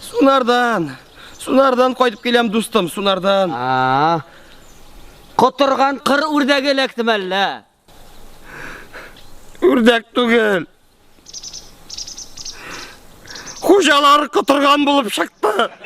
Сунардан. Сунардан кайтып киләм, дустым, Сунардан. А. Котырган кыр үрдәге эләктем әллә? Үрдәк түгел. Хуҗалар котырган булып чыкты.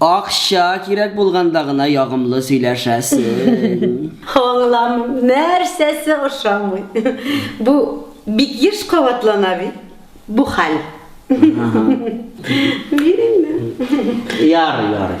Акча кирәк булганда гына ягымлы сөйләшәсең. Аңламыйм, нәрсәсе ошамый? Бу бик еш кабатлана бит бу хәл. Бир инде. Ярый, ярый.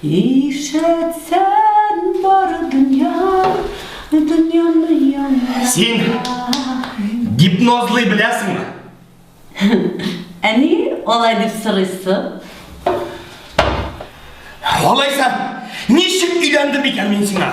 Ишәт сән бар дөнья, дөньяны яңа. Син гипнозлый беләсеңме? Ә ни алай дип сорыйсың? Алайса, ничек өйләндем икән мин сиңа?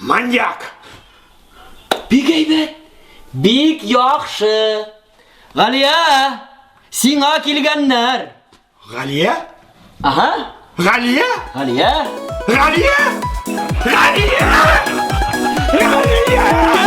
Маньяк! Бик әйбәт! Бик яхшы! Галия! Сиңа килгәннәр! Галия? Ага! Галия? Галия? Галия? Галия! Галия!